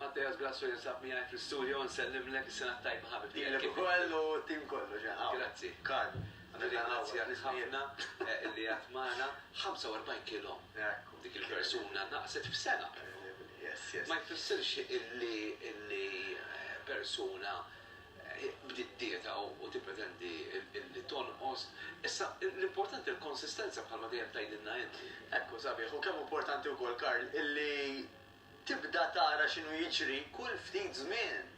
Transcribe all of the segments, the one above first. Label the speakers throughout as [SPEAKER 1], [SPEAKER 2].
[SPEAKER 1] Matteas Grasso jinsab miegħi fl-istudio, nsellimlek, is-sena t-tajba ħabib tiegħi. Lilek ukoll u
[SPEAKER 2] t-tim kollu ġa hawn. Grazzi. Karl, nirringrazzjak
[SPEAKER 1] ħafna li għedt magħna. 45 kilo. Ekku. Dik il-persuna naqset f'sena però. Yes, yes. Ma jfissirx illi persuna. bdiet dieta u tippretendi li tonqos. Issa, l-importanti l-konsistenza bħalma dejjem tgħidilna int. Ekku, sabiħ, u kemm
[SPEAKER 2] importanti wkoll, Karl, li tibda tara x'inhu jiġri kull ftit żmien.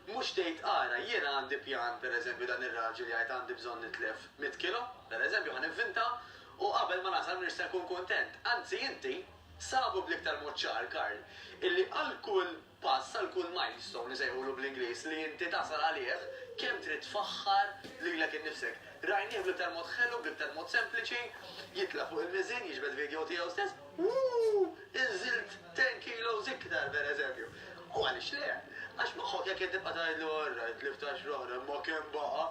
[SPEAKER 2] Mhux tgħid ara, jiena għandi pjan, per eżempju, dan ir-raġel jgħid għandi bżonn nitlef mitt kilo, per eżempju, ħa nivvinta, u qabel ma nasal m'iniex se nkun kuntent. Anzi, inti, sabu bl-iktar mod ċar, Karl, illi għal kull. pass għal kull milestone, isejħulu bl-Ingliż, li inti tasal għalih, kemm trid tfaħħar lilek innifsek. Rajnieh bl-iktar mod ħelu, bl-iktar mod sempliċi, jitla' fuq il-miżien, jiġbed video tiegħu stess, Wuu! Inżilt ten kilos iktar, per eżempju. U għaliex le? Għax moħħok jekk qed tibqa' tgħidlu, Orrajt, tlift għaxra oħra, imma kemm baqa'?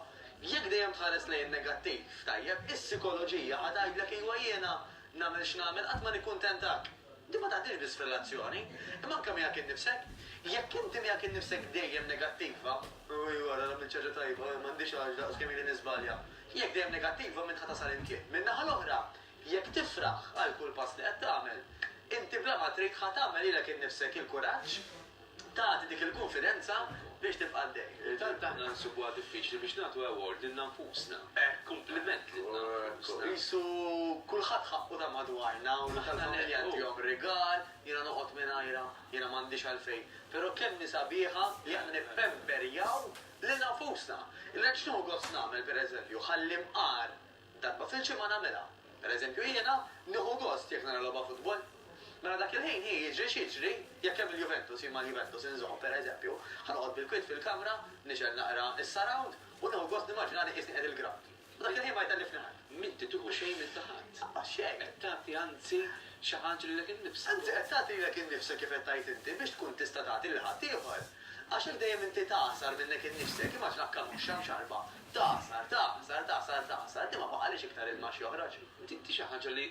[SPEAKER 2] Jekk dejjem tħares lejn in-negattiv, tajjeb, is-sikoloġija ħa tgħidlek, Ejwa jiena, nagħmel x'nagħmel, qatt ma nikkuntentak. Din ma taqdix biss f'relazzjoni, imma anke miegħek innifsek. Jekk inti miegħek innifsek dejjem negattiva, Ewwii wara għamilt xi ħaġa tajba, ma għandix għax daqs kemm ili niżbalja. Jekk dejjem negattiva minn ħa tasal inti. Min-naħa l-oħra, jekk tifraħ għal kull pass li qed tagħmel, inti bla ma trid ħa tagħmel lilek innifsek il-kuraġġ Tagħti dik il-kunfidenza biex tibqa' għaddej. Tant aħna nsibuha
[SPEAKER 1] diffiċli biex nagħtu award lilna nfusna. Hekk. Kumpliment lilna nfusna. Qisu
[SPEAKER 2] kulħadd ħaqqu ta' madwarna u l-aħħar familja ntihom rigal, jiena noqgħod mingħajrha, jiena m'għandix għalfejn. Però kemm hi sabiħa li aħna nippemperjaw lilna nfusna. Li ngħid x'nieħu gost nagħmel, pereżempju, ħalli mqar Darba fil-ġimgħa nagħmilha. Pereżempju jiena nieħu gost jekk nara logħba futbol. Mela dak il-ħin hi jiġri x'jiġri, jekk hemm il-Juventus jien mal-Juventus inżomm, pereżempju, ħa noqgħod bil-kwiet fil-kamra, nixgħel naqra s-surround u nieħu gost nimmaġinani qiesni qiegħed il-grawnd. U dak il-ħin ma jtellifni ħadd. M'inti tieħu xejn minn
[SPEAKER 1] ta' ħadd. Lanqas xejn. Qed tagħti
[SPEAKER 2] anzi
[SPEAKER 1] xi ħaġa lilek innifsek. Anzi qed tagħti lilek
[SPEAKER 2] innifsek kif qed tgħid inti biex tkun tista' tagħti lil ħaddieħor. Għax jekk dejjem inti tagħsar minnek innifsek, immaġina kkanuxxa mxarrba Tagħsar, tagħsar, tagħsar, tagħsar, inti ma baqalix iktar ilma x'joħroġ. Di xi ħaġa
[SPEAKER 1] li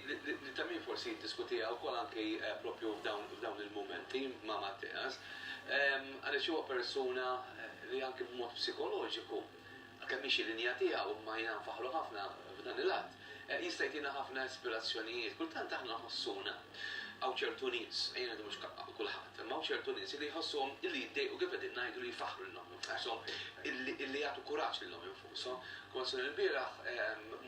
[SPEAKER 1] ta' min forsi jiddiskutiha wkoll anki proprju f'dawn il-mumenti ma' Matteas, għaliex huwa persuna li anki b'mod psikoloġiku, għalkemm hi xi linja tiegħu imma jiena nfaħħru ħafna f'dan il-att, jista' jtina ħafna ispirazzjonijiet. Kultant aħna nħossuna, hawn ċertu nies, ejja ngħidu mhux kulħadd, imma hawn ċertu nies li jħossuhom li jiddejqu kif qegħdin ngħidu li jfaħħru lil ommhom. Għashom illi jagħtu kuraġġ lilhom infushom. Kont ilbieraħ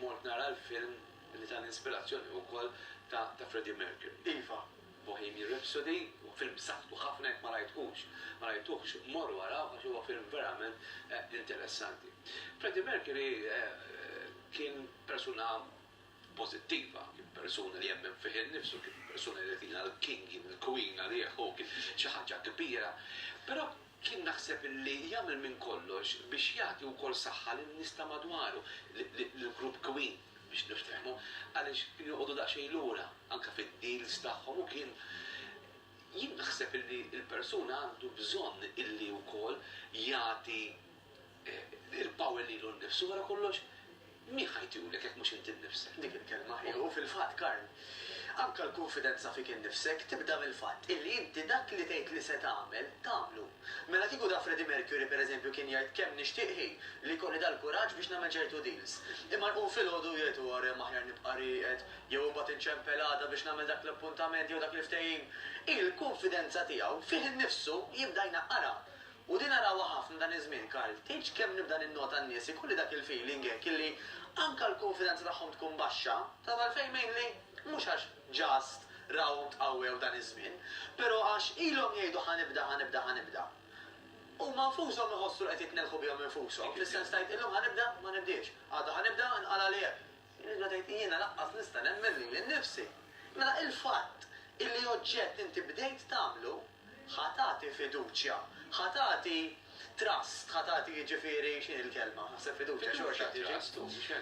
[SPEAKER 1] mort nara l-film li tani inspirazzjoni ukoll ta' Freddie Mercury. Iva,
[SPEAKER 2] Bohemian
[SPEAKER 1] Rhapsody huwa film b'saħħtu ħafna jekk ma rajthux, ma rajtuhx, morru arawh għax huwa film verament interessanti. Freddie Mercury kien persuna pożittiva, kien persuna li jemmen fih innifsu, kien persuna li jrid jilqa' l-King jew il-Queen għalih, hu kien xi ħaġa kbira. Però kien naħseb li jagħmel minn kollox biex jagħti wkoll saħħa lin-nies ta' madwaru, lill-grupp Queen biex niftehmu, għaliex kienu joqogħdu daqsxejn lura anke fid-deals tagħhom u kien Jien naħseb li l-persuna għandu bżonn illi wkoll jagħti Il-power lilu nnifsu wara kollox, min ħa jtiulek jekk mhux inti nnifsek? Dik il-kelma hi. U
[SPEAKER 2] fil-fatt, Karl, anke l-kunfidenza fik innifsek tibda mill-fatt illi inti dak li tgħid li se tagħmel, tagħmlu. Mela kieku ta' Freddie Mercury, per eżempju, kien jgħid kemm nixtieq hi li jkolli dal-kuraġġ biex nagħmel ċertu deals. Imma jqum filgħodu u jgħid huwa remm aħjar nibqa' rieqed, jew imbagħad inċempel għada biex nagħmel dak l-appuntament jew dak il-ftehim. Il-kunfidenza tiegħu fih innifsu jibda jnaqqarha. U din narawha ħafna dan iż-żmien, Karl. Tgħidx kemm nibda ninnota n-nies ikolli dak il-feeling hekk illi anke l-kunfidenza tagħhom tkun baxxa, taf għalfejn mainly? Mhux għax just rawhom tqawwew dan iż-żmien, però għax ilhom jgħidu ħa nibda, ħa nibda, ħa nibda. Huma nfushom iħossu li qed jitnellħu bihom infushom, fis-sens tgħid illum ħa nibda, ma nibdiex, għada ħa nibda, inqala' li hekk. Tibda tgħid jiena lanqas nista' nemmen lili nnifsi. Mela il-fatt illi oġġett inti bdejt tagħmlu, Ħa tagħti fiduċja, ħa tagħti trust, ħa tagħti jiġifieri x'inhi l-kelma, naħseb fiduċja xorta tiġi,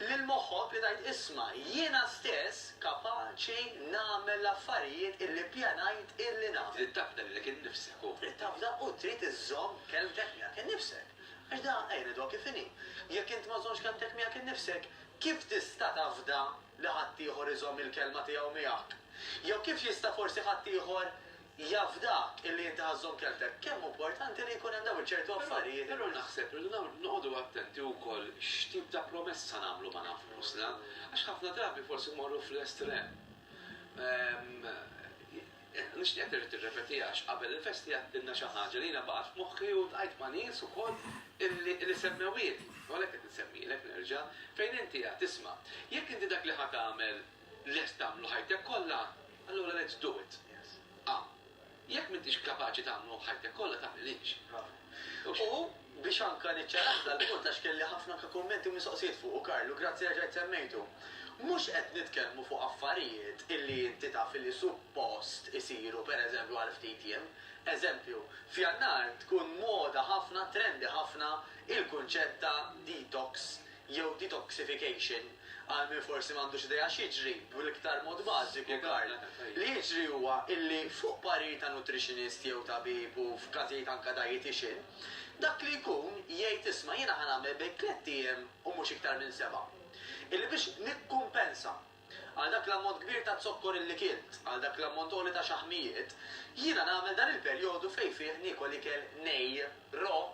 [SPEAKER 2] lil moħħok li tgħid isma' jiena stess kapaċi nagħmel l-affarijiet illi ppjanajt illi nagħmel. Trid tafda lilek innifsek
[SPEAKER 1] u. Trid tafda u trid
[SPEAKER 2] iżżomm kelmtek miegħek innifsek. Għax da, ejja ngħiduha kif inhi, jekk int ma żżommx kelmtek miegħek innifsek, kif tista' tafda li ħaddieħor iżomm il-kelma tiegħu miegħek? Jew kif jista' forsi ħaddieħor jafdak illi inti ħa żżomm kelmtek? Kemm hu importanti li jkun hemm dawn iċ-ċertu affarijiet. Però naħseb irridu
[SPEAKER 1] noqogħdu attenti wkoll x'tip ta' promessa nagħmlu ma' nafusna, għax ħafna drabi forsi mmorru fl-estrem. Nixtieqek terġa' tirrepetiha għax qabel il-festi għedtilna xi ħaġa li jiena baqgħet f'moħħi u ltqajt ma' nies ukoll li semmewhieli, u għalhekk qed insemmilek nerġa', fejn inti għedt, isma', jekk inti dak li ħa tagħmel lest tagħmlu ħajtek kollha, allura let's do it. A. Jekk m'intix kapaċi tagħmlu ħajtek kollha tagħmilhiex. U
[SPEAKER 2] biex anka niċċaraħ dal-punt għax kelli ħafna anka kummenti u mistoqsijiet fuqu, Karl, u grazzi reġajt semmejtu. Mhux qed nitkellmu fuq affarijiet illi inti taf illi suppost isiru pereżempju għal ftit jiem. Eżempju, f'Jannar tkun moda ħafna, trendi ħafna, il-kunċett ta' detox jew detoxification, għal min forsi m'għandux idea x'jiġri, bl-iktar mod bażiku, Karl, li jiġri huwa illi fuq parir ta' nutritionist jew tabib u f'każijiet anke dietician, dak li jkun jgħid isma' jiena ħa nagħmel bejk tlett ijiem u mhux iktar minn sebgħa. Illi biex nikkumpensa għal dak l-ammont kbir ta' zokkor illi kilt, għal dak l-ammont għoli ta' xaħmijiet, jiena nagħmel dan il-perjodu fejn fih niekol ikel nej, raw,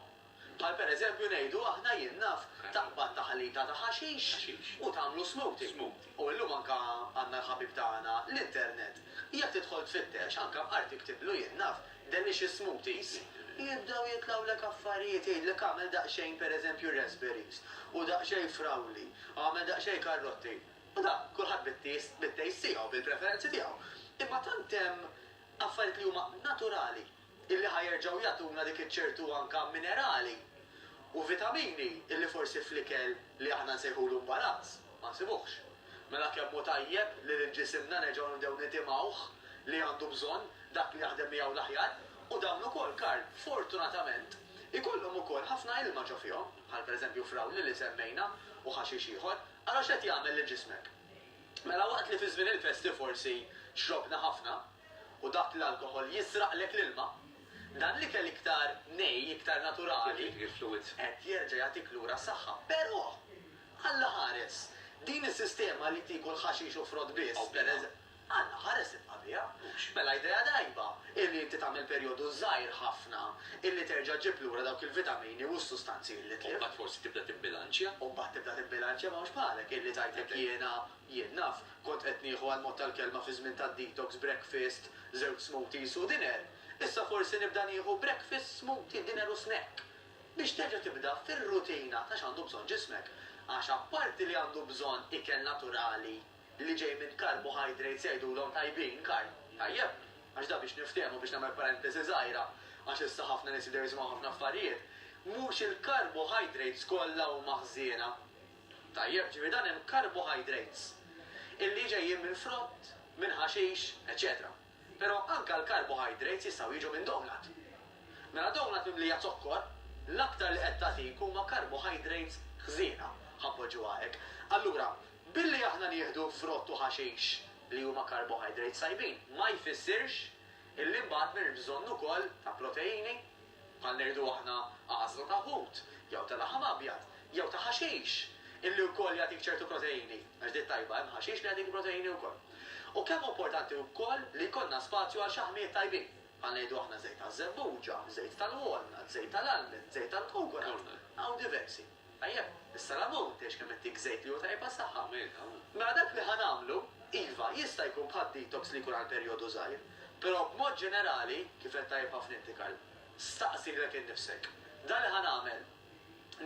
[SPEAKER 2] Bħal per eżempju ngħidu aħna jien naf taqbad taħlita ta' ħaxix u tagħmlu smoothie. U illum anke għandna l-ħabib tagħna l-internet. Jekk tidħol tfittex, anke b'art iktiblu jien naf delicious smoothies, jibdew jitlgħulek affarijiet jgħidlek agħmel daqsxejn per eżempju raspberries u daqsxejn frawli, agħmel daqsxejn karrotti. U dan kulħadd bit-taste tiegħu, bil-preferenzi tiegħu. Imma tant hemm affarijiet li huma naturali. illi ħa jerġgħu jagħtuna dik iċ-ċertu anka minerali u vitamini illi forsi fl-ikel li aħna nsejħulu mbarazz ma nsibuhx. Mela kemm hu tajjeb li lil ġisimna nerġgħu nibdew nitimgħuh li għandu bżonn dak li jaħdem miegħu l-aħjar u dawn ukoll Karl, fortunatament, ikollhom ukoll ħafna ilma ġo fihom, bħal per eżempju frawli li semmejna u ħaxix ieħor. Ara x'qed jagħmel lil ġismek. Mela waqt li fi żmien il-festi forsi xrobna ħafna, U dak l-alkoħol jisraqlek l-ilma. Dan l-ikel iktar nej, iktar naturali, qed jerġa' jagħtik lura s-saħħa. Però! Alla ħares! Din is-sistema li tiekol ħaxix u frott biss, pereż. Alla ħares ibqa' biha. Mela idea tajba hi li inti tagħmel perjodu żgħir ħafna illi terġa' ġġib lura dawk il-vitamini u s-sustanzi illi tlift. U mbagħad forsi tibda tibbilanċja.
[SPEAKER 1] U mbagħad tibda tibbilanċja,
[SPEAKER 2] m'hawnx bħalek illi tgħidlek jiena Jien naf, kont qed nieħu għall-mod tal-kelma fi żmien tad-detox breakfast, żewġ smoothies u dinner, issa forsi nibda nieħu breakfast, smoothie, dinner u snack biex terġa' tibda fir-rutina ta' x'għandu bżonn ġismek. Għax apparti li għandu bżonn ikel naturali li ġej minn carbohydrates jgħidulhom tajbin, carb, tajjeb, għax dan biex niftehmu biex nagħmel parentesi żgħira għax issa ħafna nies jibdew jisimgħu ħafna affarijiet, mhux il-carbohydrates kollha huma ħżiena. Tajjeb, ġifieri dan hemm carbohydrates illi ġejjin minn frott, minn ħaxix, eċċetera. Però anke l-carbohydrates jistgħu jiġu minn donut. Mela donut mimlija zokkor, l-aktar li qed tagħtik huma carbohydrates ħżiena, ħa npoġġuha hekk. Allura, billi aħna nieħdu frott u ħaxix li huma carbohydrates tajbin, ma jfissirx illi mbagħad m'hemmx bżonn ukoll ta' proteini, bħal ngħidu aħna għażla ta' ħut jew ta' laħam abjad jew ta' ħaxix illi wkoll jagħtik ċertu proteini, għax diet tajba hemm ħaxix li jagħtik proteini wkoll. U kemm hu importanti wkoll li jkollna spazju għal xaħmijiet tajbin, bħal ngħidu aħna żejt taż-żebbuġa, żejt tal-walnut, żejt tal-almond, żejt tal-kokonut, hawn diversi. Ejja, issa 'l ammont, tgħix kemm qed tiek żejt li hu tajjeb għas-saħħa. Mela dak li ħa nagħmlu, iva, jista' jkun bħal detox li jkun għal perjodu żgħir, però b'mod ġenerali, kif għedt tajjeb ħafna inti Karl, staqsi lilek innifsek, 'Dan li ħa nagħmel,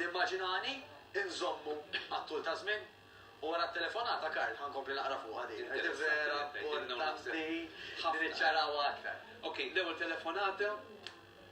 [SPEAKER 2] nimmaġinani nżommu għat-tul ta' żmien? U wara t-telefonata, Karl, ħa nkompli naqra fuqha din, għax din vera importanti li niċċarawha aktar. Okej, l-ewwel
[SPEAKER 1] telefonata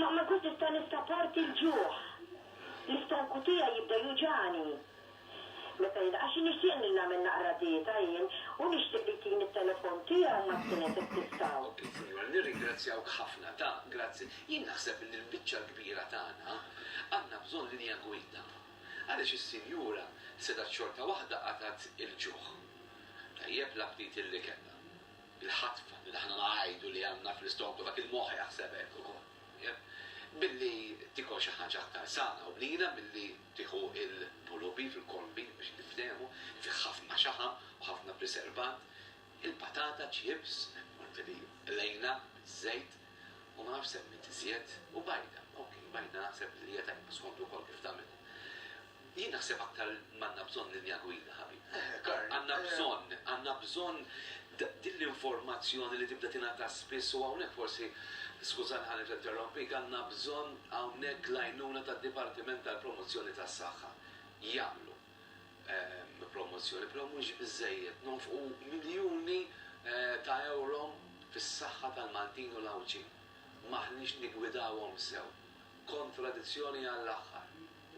[SPEAKER 3] Ma nkunx nista' nistaporti l-ġuħ. L-istonku tiegħi jibda juġagħni. Meta jien, għax nixtieq li nagħmel naqra dieta jien, u nixtieq li jtini t-telefon tiegħu mat-tliet hekk tistgħu. Il-Kunjur,
[SPEAKER 1] Nirringrazzjawk ħafna ta' grazzi. Jien naħseb li l-biċċa l-kbira tagħna għandna bżonn linja gwida. Għaliex is-sinjura setgħet xorta waħda qatgħet il-ġuħ. Tajjeb l-aptiti li kellha. bil-ħatfa li aħna ngħidu li għandna fl-istonk u dak il-moħħ jaħseb hekk ukoll. Billi tikol xi ħaġa aktar sana u bnina milli tieħu l-pulubi fil-kolbi biex niftehmu, li fih ħafna xaħam u ħafna priservant, il-patata ċips, apparti li qlejna biż-żejt u ma nafx semmit iżjed, u bajda, ok, bajda naħseb li hija tajba skont ukoll kif tagħmilha. Jien naħseb aktar m'għandna bżonn linja gwida, ħabib. Għandna bżonn, għandna bżonn din l-informazzjoni li tibda tingħata spiss u hawnhekk forsi, skużani ħalli ninterrompik, għandna bżonn hawnhekk l-għajnuna tad-Dipartiment tal-Promozzjoni tas-Saħħa. Jagħmlu promozzjoni, però mhux biżżejjed. Nonfqu miljuni ta' ewro fis-saħħa tal-Maltin u l-Għawdxin. M'aħniex niggwidawhom sew. Kontradizzjoni għall-aħħar.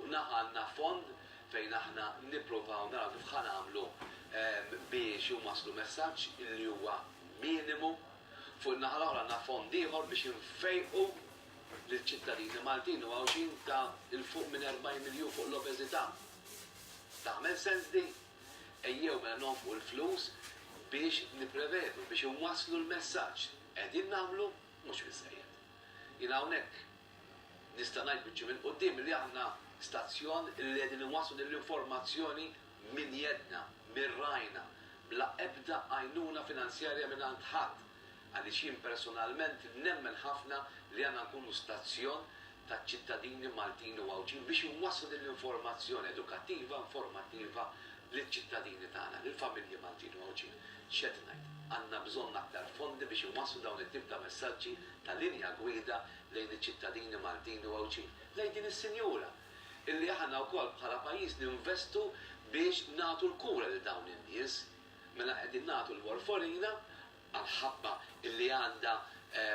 [SPEAKER 1] u naħa għandna fond fejn aħna nippruvaw naraw kif ħa nagħmlu biex huma jslu messaġġ li huwa minimu, fuq in-naħa l-oħra għandna fond ieħor biex infejqu liċ-ċittadini Maltin u Għawdxin ta' 'l fuq minn 40 miljun fuq l-obeżità. Tagħmel sens din? Ejjew mela nonfqu l-flus biex nipprevedu, biex inwasslu l-messaġġ. Qegħdin nagħmlu? Mhux biżżejjed. Jiena hawnhekk. Nista' ngħid biċċi minn quddiem li aħna stazzjon li qegħdin inwasslu din l-informazzjoni minn jedna, minn rajna, bla ebda għajnuna finanzjarja mingħand ħadd, għaliex jien personalment nemmen ħafna li għandna nkunu stazzjon taċ-ċittadini Maltin u Għawdxin biex inwasslu din l-informazzjoni edukattiva, informattiva liċ-ċittadini tagħna, lill-familji Maltin u Għawdxin. X'qed ngħid? Għandna bżonn aktar fondi biex inwasslu dawn it-tip ta' messaġġi ta' linja gwida lejn iċ-ċittadini Maltin u Għawdxin, lejn din is-sinjura, illi aħna wkoll bħala pajjiż ninvestu biex nagħtu l-kura lil dawn in-nies. Mela qegħdin nagħtu l-warfarina għall-ħabba illi għandha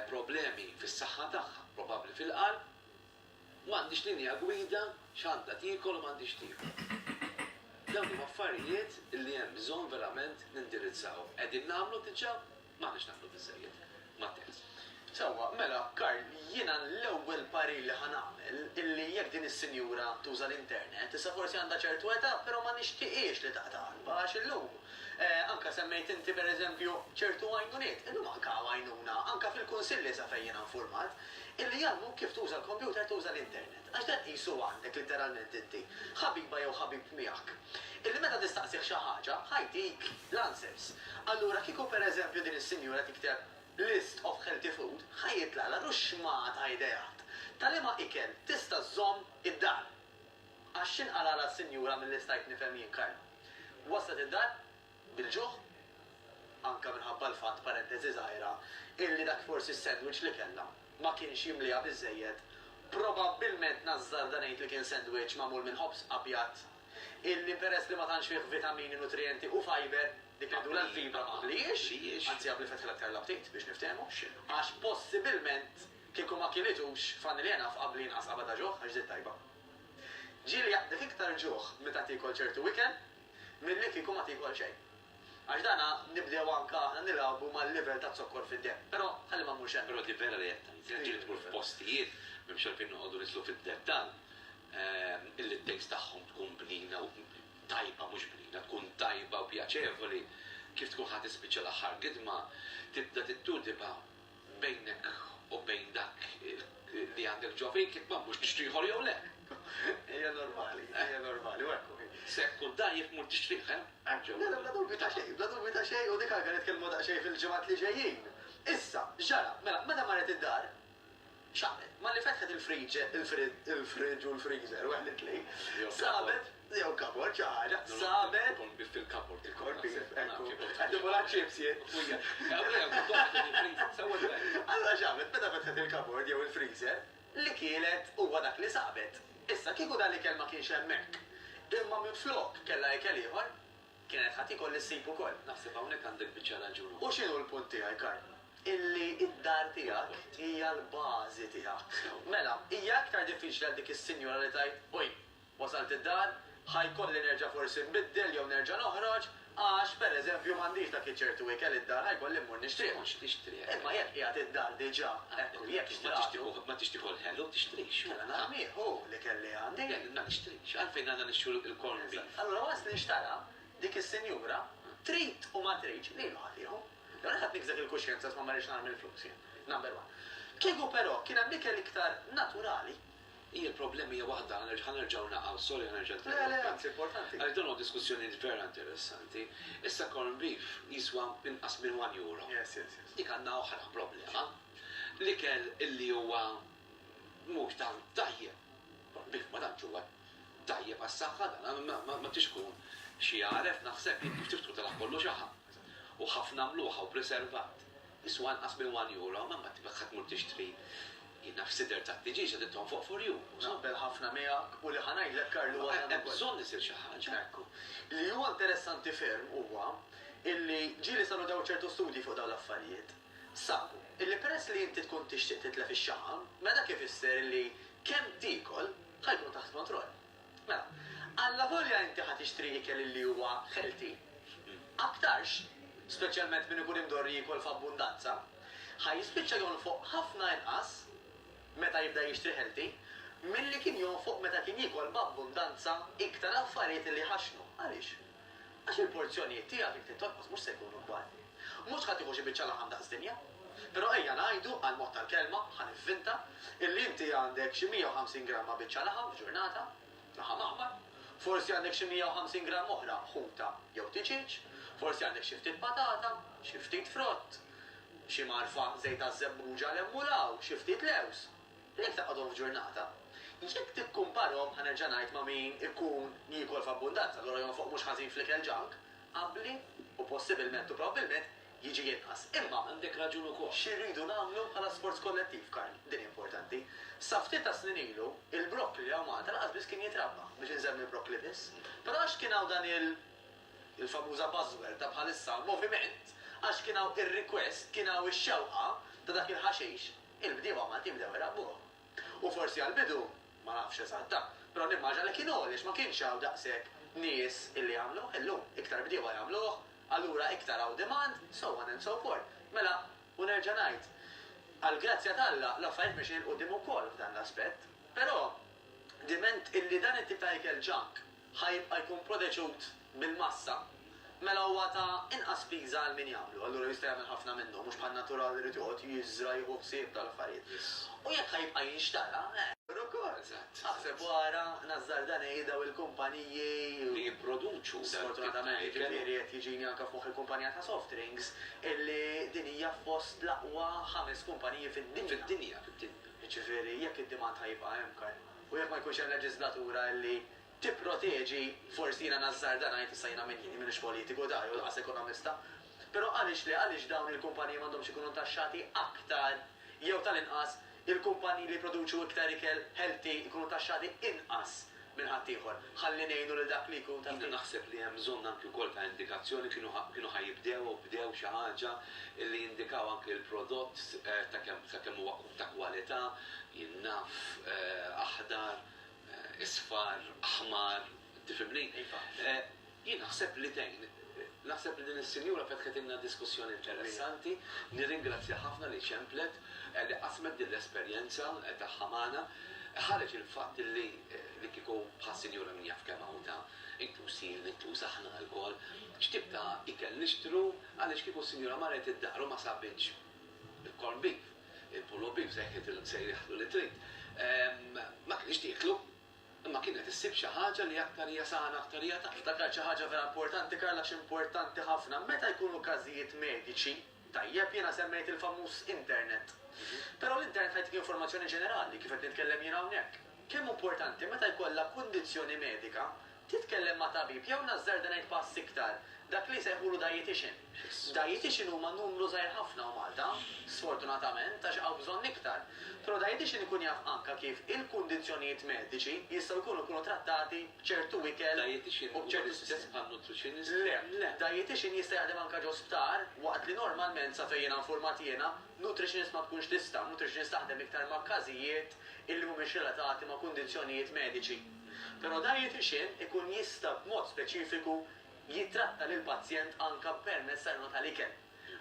[SPEAKER 1] problemi fis-saħħa tagħha, probabbli fil-qalb, u m'għandhiex linja gwida x'għandha tiekol u m'għandhiex tiekol. Dawn huma affarijiet illi hemm bżonn verament nindirizzaw. Qegħdin nagħmlu diġà? M'aħniex naqblu biżżejjed mat-tekst. Sewwa, mela,
[SPEAKER 2] Karl, jiena l-ewwel parir li ħa nagħmel illi jekk din is-sinjura tuża l-internet, issa forsi għandha ċertu età, però ma nixtieqhiex li taqta' qalbha għax illum, anke semmejt inti pereżempju ċertu għajnuniet, illum anke hawn għajnuna, anke fil-kunsilli sa fejn jiena infurmat, illi jgħallmuk kif tuża l-kompjuter, tuża l-internet. Għax dan qis hu għandek litteralment inti, ħabiba jew ħabib miegħek, illi meta tistaqsih xi ħaġa, ħa jtik l-answers. Allura kieku pereżempju din is-sinjura tikteb list of healthy food, ħa jitlagħlha ruxxmah ta' ideat ta' liema ikel tista' żżomm id-dar. Għax x'inqalagħlha s-sinjura milli stajt nifhem jien Kayla? Waslet id-dar? bil-ġuħ, anke minħabba l-fatt, parenteżi żgħira, illi dak forsi s-sandwich li kellha ma kienx jimlieha biżżejjed, probabbilment nażżarda ngħid li kien sandwich magħmul minn ħobż abjad illi peress li ma tantx fih vitamini, nutrijenti u fiber, dik li ngħidulha l-fibra ma qbliex, anzi qabli fetħilha aktar l-aptit, biex niftehmu, għax possibilment kieku ma kilitux familja naf qabli inqas qabadha ġuħ għax żied tajba. Ġieli jaqbdek iktar ġuħ meta tiekol ċertu ikel Milli kieku ma tiekol xejn. Għax dana nibdew anke aħna nilgħabu mal-livell taz-zokkor fid-demm. Però ħalli ma mmurx hemm. Però di vera li qed tgħid.
[SPEAKER 1] Qed ngħid li tmur f'postijiet, m'hemmx għalfejn noqogħdu nidħlu fid-dettall, illi t-taste tagħhom tkun bnina u tajba, mhux bnina, tkun tajba u pjaċevoli, kif tkun ħa tispiċċa l-aħħar gidma, tibda tittudiba. bejnek u bejn dak li għandek ġo fik, jekk m'għandux tixtri ieħor jew le. Hija
[SPEAKER 2] normali, hija normali, u hekk hu. Se jekk tkun dgħajjef
[SPEAKER 1] mur tixtrih, eh? Għaġġel. Le, le, bla dubju
[SPEAKER 2] ta' xejn, bla dubju ta' xejn, u dik għalkemm qed nitkellmu daqsxejn fil-ġimgħat li ġejjin. Issa, x'ġara? Mela, meta marret id-dar, X'għamlet? Malli fetħet il-friġġ u l-freezer, waħda mit-tnejn, sabet, jew kabord, xi ħaġa, sabet. Il-corned beef fil-kabord.
[SPEAKER 1] Il-corned beef, ekku.
[SPEAKER 2] Qed nimur għaċ-chips jien. Allura x'għamlet? Meta fetħet il-kabord jew il-freezer, li kielet huwa dak li sabet. Issa, kieku dan l-ikel ma kienx hemmhekk, imma minflok kellha ikel ieħor, Kienet ħa tikol li ssib ukoll. Naħseb hawnhekk għandek
[SPEAKER 1] biċċa raġun. U x'inhu l-punt tiegħi,
[SPEAKER 2] Karl? Illi d-dar tiegħek hija l-bażi tiegħek. Mela, hija iktar diffiċli għal dik is-sinjura li tgħid, Oj, wasalt id-dar, ħa jkolli nerġa' forsi nbiddel jew nerġa' noħroġ, għax, per eżempju, m'għandix dak iċ-ċertu ikel id-dar, ħa jkolli mmur nixtrih. Tkunx tixtrih. Imma jekk qiegħed id-dar diġà, ekku, jekk xtratu. Ma tixtrih ukoll, ma tixtrih
[SPEAKER 1] ukoll ħelu, tixtrih. Kellha nhar nieħu
[SPEAKER 2] l-ikel li għandi. Kellna nixtri. X'għalfejn
[SPEAKER 1] għandna nixtru l-corned beef? Allura waqt li nxtara,
[SPEAKER 2] dik is-sinjura trid u ma tridx, lilu ħadd ieħu. Jew jien ħadd nikżek il-kuxjenza għax ma marritx naħrab mill-flus jien. Number one. Kieku però kien hemm ikel iktar naturali. Hija l-problema
[SPEAKER 1] hija waħda, ħa nerġgħu naqgħu, sorry ħa nerġa' nitkellem. Le, le, anzi importanti.
[SPEAKER 2] Għaliex dawn huma diskussjonijiet
[SPEAKER 1] vera interessanti. Issa corned beef jiswa inqas minn one euro. Yes, yes, yes. Dik
[SPEAKER 2] għandna oħra
[SPEAKER 1] problema. L-ikel illi huwa mhux tant tajjeb. Bih ma tantx huwa tajjeb għas-saħħa dan, ma tridx tkun xi għaref naħseb jien kif trid tkun telgħab kollu xaħam. U ħafna mluħa u preservat. Jiswa inqas minn one euro, ma ma ma tmur tixtri jien naf sider tad-diġieġ qegħdin tonfoq for you. Naqbel ħafna
[SPEAKER 2] miegħek u li ħa ngħidlek Karl huwa dan ukoll. Hemm bżonn isir
[SPEAKER 1] xi ħaġa. Ekku. Li huwa
[SPEAKER 2] interessanti ferm huwa illi ġieli saru dawn ċertu studji fuq dawn l-affarijiet. Sa, illi peress li inti tkun tixtieq titlef ix-xaħam, mela dak ifisser illi kemm tiekol ħa jkun taħt kontroll. Mela, allavolja inti ħa tixtri ikel illi huwa ħelti, aktarx, speċjalment min ikun imdorri jiekol f'abbundanza, ħa jispiċċa jonfoq ħafna inqas meta jibda jixtri ħelti milli kien jonfoq meta kien jiekol b'abbundanza iktar affarijiet li jħaxxnu. Għaliex? Għax il-porzjonijiet tiegħek jekk tintonqos mhux se jkunu kbar. Mhux ħa tieħu xi biċċa laħam daqs dinja. Però ejja ngħidu, għall-mod tal-kelma, ħa nivvinta, illi inti għandek xi 150 gramma biċċa laħam f'ġurnata, laħam aħmar, forsi għandek xi 150 gramm oħra ħuta jew tiġieġ, forsi għandek xi ftit patata, xi ftit frott, xi mgħarfa żejt għaż-żebbuġa 'l hemm u 'l hawn, xi ftit lewż. Jekk taqgħadhom f'ġurnata, jekk tikkumparhom, ħa nerġa' ngħid, ma' min ikun jiekol f'abbundanza, allura jonfoq mhux ħażin fl-ikel junk, abbli u possibilment u probbilment jiġi inqas. Imma. Għandek raġun ukoll. Xi
[SPEAKER 1] rridu nagħmlu bħala
[SPEAKER 2] sforz kollettiv, Karl? Din hi importanti. Sa ftit tas-snin ilu, il-broccoli hawn Malta lanqas biss kien jitrabba, biex insemmi l-broccoli biss. Però għax kien hawn dan il, il-famuża buzzword ta' bħalissa, moviment, għax kien hawn ir-request, kien hawn ix-xewqa ta' dak il-ħaxix, Il-bdiewa Maltin bdew irabbuhom. U forsi għall-bidu, ma nafx eżatta, però nimmaġina li kienu għaliex ma kienx hawn daqshekk nies illi jagħmluh. Illum, iktar bdiewa jagħmluh, allura iktar hawn demand, so on and so forth. Mela, u nerġa' ngħid, għall-grazzja t'Alla, l-affarijiet mexjin 'il quddiem ukoll f'dan l-aspett. Però, diment illi dan it-tip ta' ikel junk, ħa jibqa' jkun proteġut bil-massa, mela huwa ta' inqas spiża għal min jagħmlu, allura jista' jagħmel ħafna minnu, mhux bħan-natural li jrid joqgħod jiżżra' jieħu ħsieb tal-affarijiet. U jekk ħa jibqa' jinxtara, eh! Ukoll! Aħseb u ara, nażżarda ngħid, dawn il-kumpaniji. Li jipproduċu
[SPEAKER 1] dan it-tip ta' ikel. Sfortunatament, jiġifieri
[SPEAKER 2] qed jiġini anke f'moħħi l-kumpanija ta' soft drinks, illi din hija fost l-aqwa ħames kumpaniji fid-dinja. Fid-dinja, fid-dinja. Jiġifieri, jekk id-demand ħa jibqa' hemm, Karl. U jekk ma jkunx hemm leġiżlatura li tipproteġi, forsi jiena nażżarda ngħid, issa jiena min jieni, m'iniex politiku da jew lanqas ekonomista, però għaliex le, għaliex dawn il-kumpaniji m'għandhomx ikunu ntaxxati aktar jew tal-inqas il-kumpaniji li jipproduċu iktar ikel healthy jkunu taxxati inqas minn ħaddieħor ħalli ngħinu lil dak li jkun ta' ftit. Jiena naħseb li hemm bżonn
[SPEAKER 1] anki wkoll ta' indikazzjoni, kienu ħa jibdew u bdew xi ħaġa li jindikaw anki l-prodott ta' kemm ta' kemm huwa ta' kwalità, jien naf aħdar, isfar, aħmar, tifhimni? Iva. Jien naħseb li tgħin. Naħseb li din is-sinjura fetħetilna diskussjoni interessanti, nirringrazzjaha ħafna li ċemplet, li qasmet din l-esperjenza tagħha magħna. Ħareġ il-fatt li li kieku bħas-sinjura min jaf kemm hawn ta' inkluż jien, inkluż aħna lkoll, x'tip ta' ikel nixtru għaliex kieku s-sinjura marret id-dar u ma sabitx Il-corn beef, il-pulled beef se jieħdu li trid. Ma kinitx tieklu, imma kienet issib xi ħaġa li aktar hija sana, aktar hija ta'. Ftakart xi ħaġa vera
[SPEAKER 2] importanti, Karl, għax importanti ħafna. Meta jkunu każijiet mediċi, tajjeb, jiena semmejt il-famuż internet. Però l-internet ħajtik informazzjoni ġenerali, kif qed nitkellem jien hawnhekk. Kemm hu importanti meta jkollha kundizzjoni medika Titkellem ma' tabib jew nażżar dan il-pass iktar, dak li jsejħulu dietician. Dietician huma numru żgħir ħafna u Malta, sfortunatament, għax hawn bżonn iktar. Però dietician ikun jaf anka kif il-kundizzjonijiet mediċi jistgħu jkunu jkunu trattati b'ċertu ikel u b'ċertu sistema. Dietician huwa l-istess
[SPEAKER 1] bħal
[SPEAKER 2] nutritionist?
[SPEAKER 1] Le, le. Dietician
[SPEAKER 2] jista' jaħdem anka ġo sptar, waqt li normalment, sa fejn jiena infurmat jiena, nutritionist ma tkunx tista', nutritionist taħdem iktar ma' każijiet illi mhumiex relatati ma' kundizzjonijiet mediċi. Però dajjetixin ikun jista' b'mod speċifiku jittratta lill-pazjent anke permezz ta' għajnuna tal-ikel.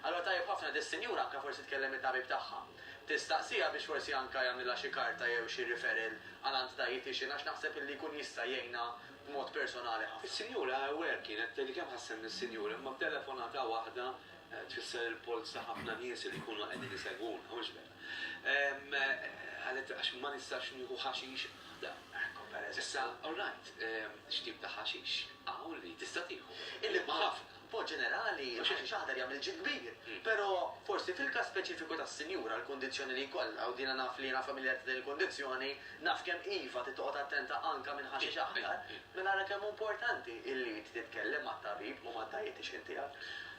[SPEAKER 2] Allura tajjeb ħafna dis-sinjura anke forsi tkellem it-tabib tagħha. Tistaqsiha biex forsi anke jagħmlilha xi karta jew xi referral għal għand dajjetixin għax naħseb illi jkun jista' jgħinha b'mod personali ħafna. Is-sinjura hawnhekk kienet
[SPEAKER 1] tgħidli kemm ħa ssemmi s-sinjuri imma b'telefonata waħda tfisser il-polz ta' ħafna nies li jkunu qegħdin isegwuna, mhux b'hekk? Qalet, Għax ma nistax nieħu ħaxix. Issa, all right, x'tip ta' ħaxix hawn li tista' tieħu? Imma ħafna.
[SPEAKER 2] B'mod ġenerali, il-ħaxix aħdar jagħmel ġid kbir. Però, forsi fil-każ speċifiku tas-sinjura, l-kundizzjoni li jkollha, u din naf li jiena familjar ta' din il-kundizzjoni, naf kemm iva trid toqgħod attenta anke minn ħaxix aħdar, mela ara kemm hu importanti li inti titkellem mat-tabib u mad-dietician tiegħek.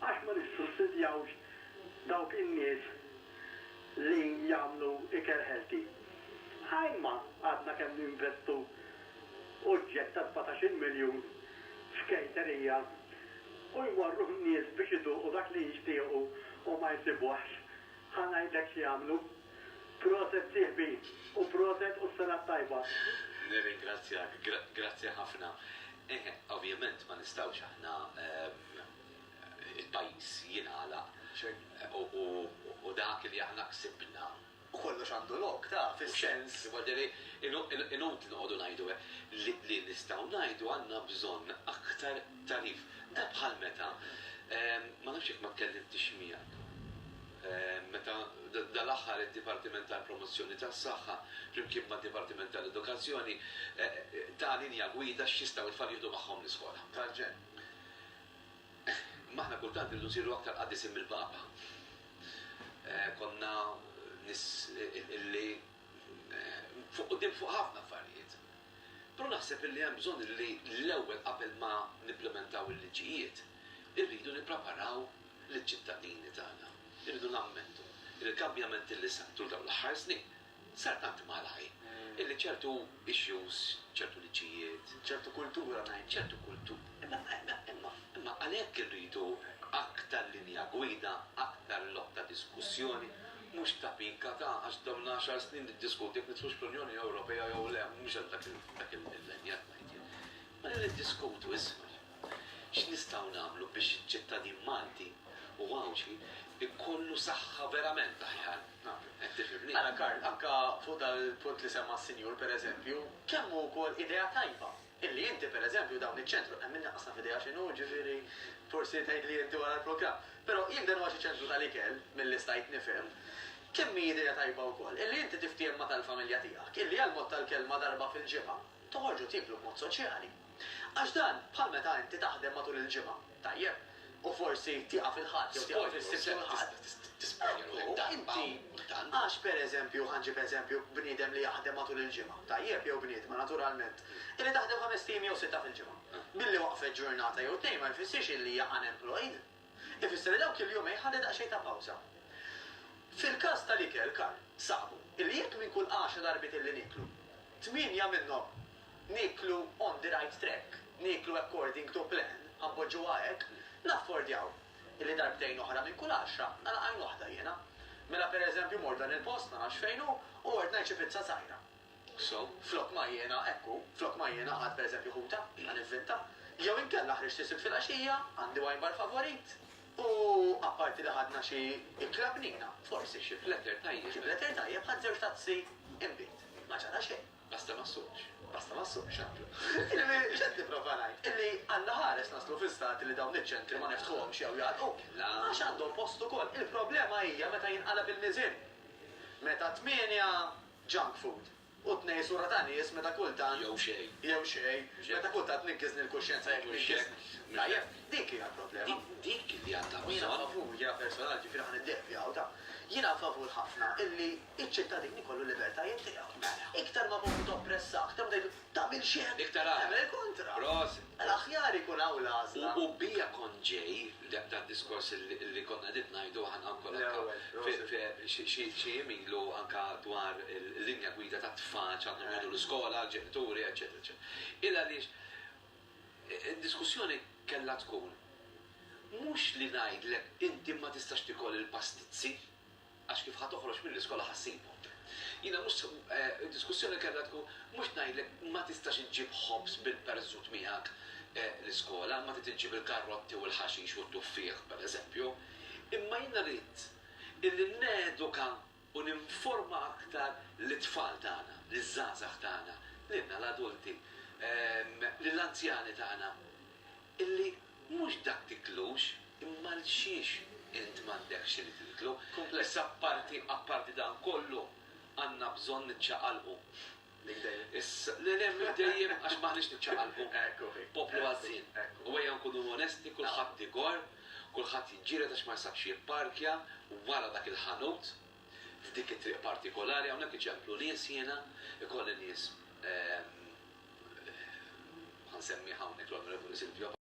[SPEAKER 4] Għax ma nissussidjawx dawk in-nies li jagħmlu ikel healthy? A imma għadna kemm ninvestu uġġett ta' sbatax-il miljun f'kejterija u jmorru n-nies biex iduqu dak li jixtiequ u ma jsibuhx, ħa ngħidlek x'jagħmlu. Proset sieħbi u proset u s-sena t-tajba. Nirringrazzjak,
[SPEAKER 1] grazzi ħafna. Eħe, ovvjament ma nistgħux aħna. il-pajjiż jingħalaq u dak li aħna ksibna. U kollox għandu
[SPEAKER 2] lok, taf, is-sens. Mhux hekk? Jiġifieri,
[SPEAKER 1] inutli noqogħdu ngħidu hekk. Li nistgħu ngħidu għandna bżonn aktar tagħrif. Da bħal meta, ma nafx jekk ma tkellimtx miegħek, meta dal-aħħar id-Dipartiment tal-Promozzjoni tas-Saħħa flimkien mad-Dipartiment tal-Edukazzjoni ta linja gwida x'jistgħu t-tfal jieħdu magħhom l-iskola. Tal-ġenn.
[SPEAKER 2] Imma
[SPEAKER 1] aħna kultant irridu nsiru aktar qaddisin mill-Papa. Konna nies illi fuq quddiem fuq ħafna affarijiet. Però naħseb illi hemm bżonn illi l-ewwel qabel ma nipplimentaw il-liġijiet, irridu nippreparaw liċ-ċittadini tagħna. Irridu nammettu illi l-kambjamenti li sar tul dawn l-aħħar snin Sar tant malajr illi ċertu issues, ċertu liġijiet, ċertu kultura
[SPEAKER 2] ngħid, ċertu kultu. Imma
[SPEAKER 1] imma imma għalhekk irridu aktar linja gwida, aktar lok ta' diskussjoni, mhux ta' pika ta' għax domna għaxar snin niddiskutu jekk nidħlux fl-Unjoni Ewropea jew le, mhux dak il-millennju qed ngħid jien. Mela niddiskutu iżgħar x'nistgħu nagħmlu biex iċ-ċittadin Malti u Għawdxi jkollu saħħa verament aħjar. Qed tifhimni? Ara
[SPEAKER 2] Karl, anke fuq dan il-punt li semma s-Sinjur, pereżempju, kemm hu wkoll idea tajba illi inti, pereżempju, dawn iċ-ċentru, hemm min iqassam f'idejha x'inhu, jiġifieri forsi tgħidli inti wara l-programm, però jekk dan huwa xi ċentru tal-ikel, milli stajt nifhem, kemm hi idea tajba wkoll illi inti tiftiehem ma' tal-familja tiegħek illi għall-mod tal-kelma darba fil-ġimgħa Toħorġu tieklu b'mod soċjali. Għax dan bħal meta inti taħdem matul il-ġimgħa, tajjeb, u forsi tieqaf il-Ħadd jew tieqaf is-Sibt u l-Ħadd. Ekku, inti, għax pereżempju, ħa nġib eżempju, bniedem li jaħdem matul il-ġimgħa, tajjeb, jew bniedma, naturalment, illi taħdem ħamest ijiem jew sitta fil-ġimgħa. Billi waqfet ġurnata jew tnejn ma jfissirx illi hija unemployed. ifisser li dawk il-jumejn ħalli daqsxejn ta' pawża. Fil-każ tal-ikel, Karl, saqbu li jekk minn kull għaxar darbiet li nieklu, tmienja minnhom nieklu on the right track, nieklu according to plan, ħa npoġġuha hekk, naffordjaw li darbtejn oħra minn kull għaxra nagħlaq għajn waħda jiena. Mela pereżempju mort dan il-post ma nafx fejn hu u mort ngħid xi pizza żgħira. So, flok ma jiena, hekk hu, flok ma jiena ħadd pereżempju ħuta, jiena nivvinta, jew inkella ħriġt is-Sibt filgħaxija, għandi wine bar favorit, u apparti li ħadna xi ikla bniena, forsi xi fletter tajjeb, xi fletter tajjeb, ħadt
[SPEAKER 1] żewġ
[SPEAKER 2] tazzi inbid. Ma ġara xejn. Basta
[SPEAKER 1] ma
[SPEAKER 2] ssuqx. Basta ma ssuqx, għaqlu. Jiġifieri, x'qed nipprova ngħid? Illi Alla ħares naslu fi stat li dawn iċ-ċentri ma niftħuhomx jew jagħlqu. La. Għax għandhom post ukoll. Il-problema hija meta jinqalab il-miżien. Meta tmienja junk food, u tnej sura ta' nies meta kultant. Jew xejn. Jew
[SPEAKER 1] xejn.
[SPEAKER 2] Meta kultant tnikkiżni l-kuxjenza jekk tnikkiżni. Tajjeb, dik hija l-problema. Dik li għandha
[SPEAKER 1] bżonn. Jiena favur, jiena
[SPEAKER 2] personal,
[SPEAKER 1] ġifieri
[SPEAKER 2] ħa niddeevja hawn, ta'. Jiena favur ħafna illi ċ-ċittadin ikollu l-libertajiet tiegħu. Mela. Iktar ma poplu toppressah, kemm tgħidlu. Tagħmilx hekk. Iktar agħar. Tagħmel il-kontra. Prosit. L-aħjar
[SPEAKER 1] ikun hawn
[SPEAKER 2] l-għażla. U bija kont
[SPEAKER 1] ġej, dad-diskors li konna qegħdin ngħidu aħna wkoll anke. L-ewwel, prosit. Fi xi jiem ilu anke dwar il-linja gwida tat-tfal x'għandhom jgħidu l-iskola, l-ġenituri, eċċetera, eċċetera. Il għaliex id-diskussjoni kellha tkun mhux li ngħidlek inti ma tistax tikol il-pastizzi, Għax kif ħa toħroġ mill-iskola ħa ssibhom. Jiena mhux se, id-diskussjoni kellha tkun, mhux ngħidlek ma tistax iġġib ħobż bil-perżut miegħek l-iskola, ma trid iġġib il-karotti u l-ħaxix u t-tuffieħ, pereżempju. Imma jiena rrid illi neduka u ninforma aktar lit-tfal tagħna, liż-żgħażagħ tagħna, lilna l-adulti, lill-anzjani tagħna, illi Mhux dak tiklux, imma 'l xiex int m'għandekx xi li tiklu. Kumpless apparti, apparti dan kollu, għandna bżonn niċċaqalqu. Minn dejjem. Le, le, minn dejjem, għax m'aħniex niċċaqalqu. Poplu għażżien. U ejja nkunu onesti, kulħadd igorr, kulħadd jiġġieled għax ma jisabx jipparkja wara dak il-ħanut, f'dik it-triq partikolari, hawnhekk iċemplu nies jiena, ikolli nies, ħa nsemmih hawnhekk l-Onorevoli Silvio.